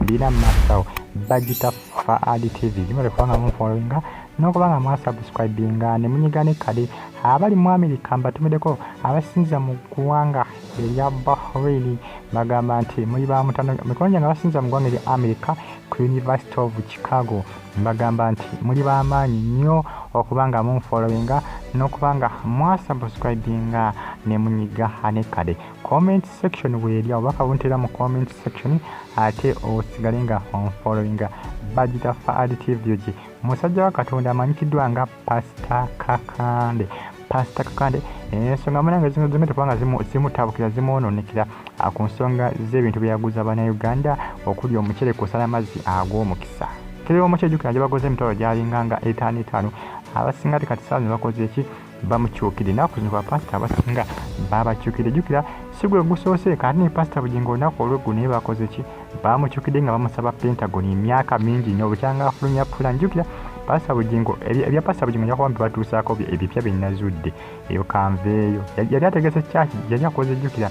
bina masawo bagita faad tv gimale kubanga munfollowinga nokuba nga mwasubscribinga ne munyiga ne kale abali mu amerika mbatumideko abasinza mu ggwanga erya bahrain bagamba nti muli ba mutano mikono gyange abasinza mu ggwanga erya amerika ku university of chicago mbagamba nti muli bamaanyi nnyo okuba nga munfollowinga nokuba nga mwasubscribinga ne munyiga ne kale comment section weeri awo baka buntera mu comment section ate osigale nga onfollowinga bagita faad tv gi musajja wa katonda amanyikiddwa nga pasita kakande pasita kakande ensonga munange zino zimete kubanga zimutabukira zimwononekera ah, ku nsonga z'ebintu byeyaguza banauganda okuli omucere kusala amazzi ag'omukisa kiriwo omukyejukira gye bakoze emitwalo gyalinga nga etaano etaano abasinga tekati saa zino bakoze eki bamukyukidde naku zino bapasita abasinga babakyukidde jukira sigwe gusoose kati ne pasita bugingo olunaku olweggu naye bakoze ki bamukyukidde nga bamusaba pentagon emyaka mingi nyo bukyanga afulumya pula njukira pasita bugingo ebya pasita bugingo njakuba mbibatuusaako ebipya byenazudde eyo kanveeyo yali ategese kyaki yali akoze jukira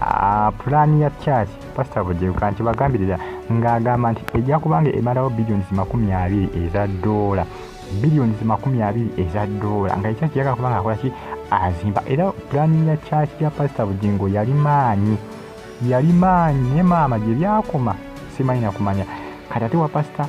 Ah, pulaani ya church pasita bujebuka nti bagambirira ng'agamba nti ejja kubanga emalawo billions makumi abiri eza doola billions makumi abiri eza doola nga ekyaki yaga kuba nga akolaki azimba era pulani ya kyaki ya pasita bugingo yali maanyi yali maanyi naye maama gye byakoma simanyi nakumanya kati ate wa pasita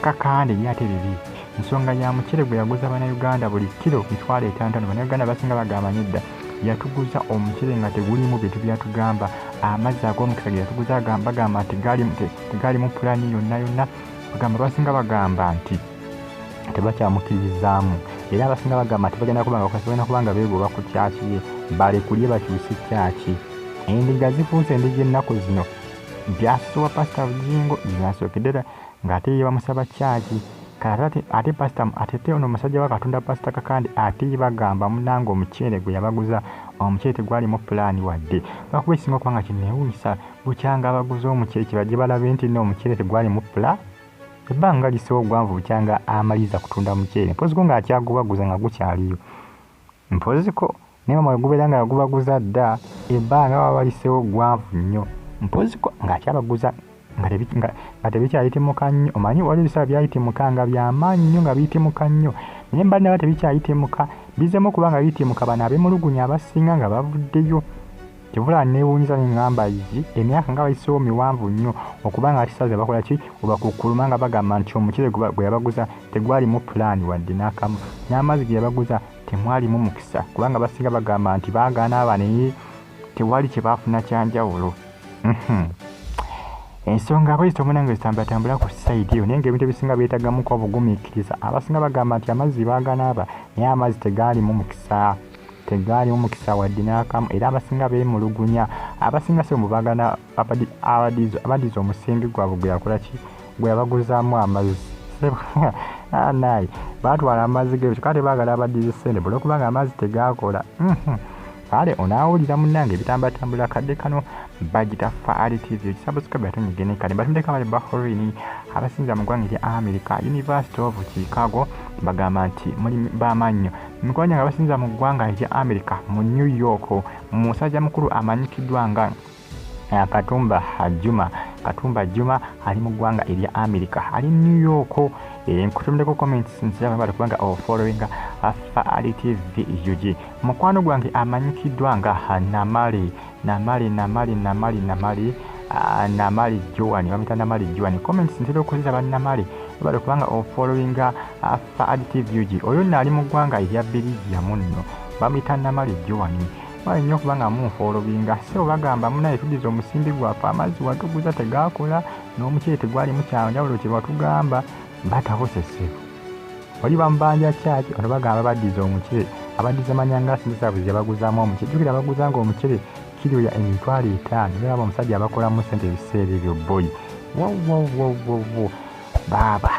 kakande ye ate bibi ensonga ya mucere gwe yaguza banauganda buli kiro mitwalo etantano banauganda basinga bagamba nedda yatuguza omucere nga tegulimu bintu byatugamba amazzi ag'omukisa ge yatuguza bagamba nti gaalimu pulani yonna yonna bagamba abasinga bagamba nti tebakyamukiririzaamu era abasinga bagamba nti bagenda kubanga kukasobena kubanga beegoba ku kyaki ye balekulye bakyuse kyaki endiga zifuuse endiga ennaku zino byasuwa pasita bujingo byasookedera ng'ate ye bamusaba kyaki katate ate pasita atete ono omusajja wa katonda pasita kakandi ate ye bagamba munanga omuceere gwe yabaguza omuceere tegwalimu pulaani wadde lwakuba ekisinga okubanga kinneewunyisa Bukyanga abaguze omuceere kibajje balabe nti nno omuceere tegwali mu ppula ebbanga lisewo ogwanvu bukyanga amaliza kutunda muceere mpoziko ng'akyagubaguza nga gukyaliyo mpoziko naye mama wegubeera nga yagubaguza dda ebbanga baba balisewo gwanvu nnyo mpoziko ng'akyabaguza nga tebikyayitimuka nnyo omanyi wali ebiseera byayitimuka nga byamaanyi nnyo nga biyitimuka nnyo naye mba naba tebikyayitimuka bizemu okuba nga biyitimuka bano abemulugunya abasinga nga bavuddeyo kivula newunyiza nengamba yi emyaka nga bayisewo miwanvu nnyo okuba nga kisaze bakola ki obakukkuluma nga bagamba nti omucere gwe yabaguza tegwalimu pulaani wadde n'akamu n'amazzi ge yabaguza temwalimu mukisa kubanga basinga bagamba nti baagaana aba naye tewali kye baafuna kyanjawulo mhm. ensonga abayizi tomunange zitambulatambula ku sayidi eyo naye nga ebintu ebisinga byetagamuko obugumiikiriza abasinga bagamba nti amazzi baaganaaba naye amazzi tegaalimu mukisa tegaali omukisa wadde n'akamu era abasinga beemulugunya abasinga si omu bagana abadiza omusimbi gwabwe gwe yakola ki gwe yabaguzaamu amazzi anayi ah, baatwala amazzi ge kyokka tebaagala abadiza ssente bula okubanga amazzi tegaakola mhm. kale onaawulira munnange ebitambatambula kadde kano bagita faali tv ekisabusikabe atonyigene kale batundeko abali bahorini abasinza mu ggwanga erya america university of chicago bagamba nti muli bamaannyo Mikwanja nga basinza mu ggwanga erya Amerika mu New York mu musajja mukulu amanyikiddwa nga eh, Katumba Juma Katumba Juma ali mu ggwanga erya Amerika ali New York eh, nkutumideko comments nsiraba bali kubanga ofollowinga oh, afa ali TV UG mukwano gwange amanyikiddwa nga ah, Namali Namali Namali Namali Namali ah, Namali Joan bamita Namali Joan comments ntera okuziraba Namali bali kubanga ofollowinga oh, Ba Additive UG, oyo nno ali mu ggwanga erya Belgium nno bamuyita Namale Joan mwali nnyo okuba nga munfa olubinga sebo bagamba munaye tudiza omusimbi gwaffe amazzi watuguza tegaakola n'omuceere tegwalimu kyanjawulo kye watugamba batabuse sebo oli bamubanja kyaki ono bagamba badiza omuceere abadiza manyanga asizabuzi yabaguzaamu omuceere jukira baguza nga omuceere kiryoya emitwalo etaano era aba omusajja abakolamu sente ebiseera ebyo boyi wowowowowo wow, wow, wow, wow, wow. baaba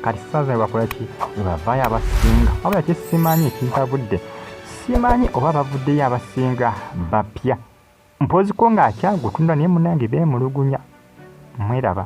kati saza bakolaki webavaayo abasinga wabula kyesimanyi ekintabudde simanyi oba bavuddeyo abasinga bapya mpoziko ng'akyagutunda naye munange beemulugunya mweraba